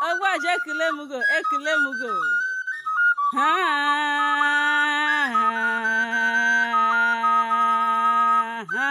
ọgbaji ekele m go ekele m go ha ha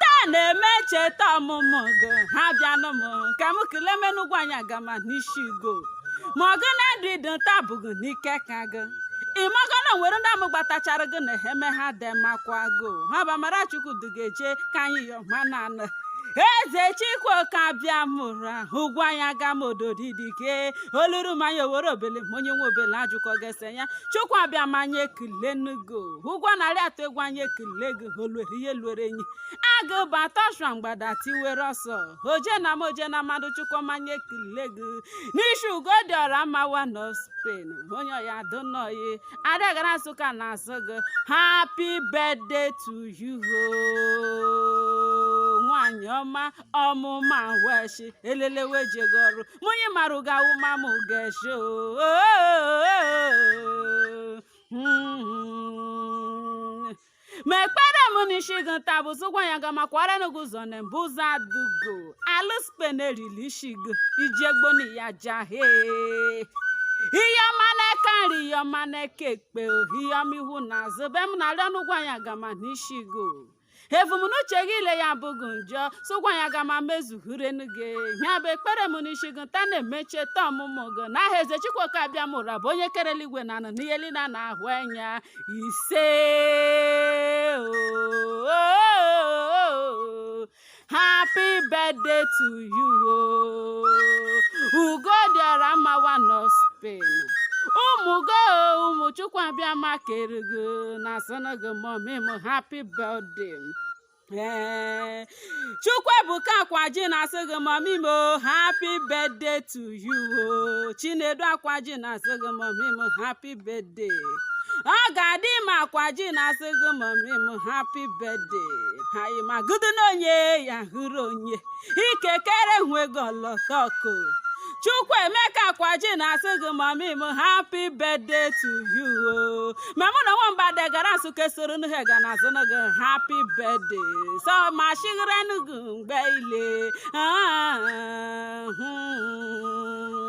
taa na-eme ncheta ọmụmụ gị ha bịanụ m ka m kelee menu ugwuanyị agama n'isi go ma ọgụ na ndụ ịdị nta bụghị n'ike ka gị ịmago na nwere ndị amụ gbatachara gị na eme ha dị makwa go ha bụ amara chukwu dugeje ka anyị yọ ma na anụ eze chikwoke abịama ụra ugwuanyị agama ododi dike oluru manya owere obele ma onye nwe obele ajụkọ gese ya chukwu abịama anyị ekele nugo ugwu a na-arị atụ egwu anyị ekele gị oluere ihe luere enyi agụ bata ọshụa mgbada tiwere ọsọ oje na mmụọ je na mmadụ chukwu m anyị ekele gị n'isi ugo dị ọra mma nwa nọ Spain onye ọya donoyi adịghara nsụka na-asị gị happy birthday to you hoo. nwanyị ọma ọmụma weshi elelewe ejego ọrụ mụnye mara ụga awụmamụ geshi oo Hmm. ma ekpere m n'isi gị nta bụ sị ugwuanyị agama kwara nu gị ụzọ na mbụ ụzọ adugo alụ Spain erili isi gị iji egbo na ya jahe ihe ọma n'aka nri ihe ọma n'aka ekpe ihe ọma ihu na azụ be m na-arịọ n'ugwuanyị agama n'isi gị ebumnuche gị ile ya bụghị njọ sị ugwuanyị agama mezuhurenu gị ya bụ ekpere m n'isi gị nta na-eme ncheta ọmụmụ gị n'aha eze chukwoke abịama ụra bụ onye kere eluigwe na ala n'ihe niile a na-ahụ anya ise o happy birthday to you oh. ugo dị ọra mma nwa nọ Spain ụmụ go ụmụ chukwu abịama kere gị na-asịnụ go mommy m happy birthday ee chukwuebuka akwaji na-asị gị mommy m oh, happy birthday to you oh. chinedu akwaji na-asị gị mommy m happy birthday ọgadịmma akwaji na-asị gị mommy m happy birthday anyị ma gụdị na onye ya hụrụ onye ikekere nwego lọtọko chukwuemeka akwaji na-asị gị mommy m happy birthday to you o ma mụ na nwamba degara nsụka soro nhe ga na-asị gị happy birthday so ma shigharenu gị mgbe ile Ah, hmm.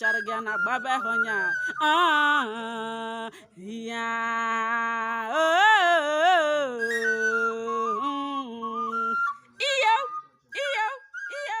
chara gị na gbaba ha onye a Ah, ya oh, mm. iyo iyo iyo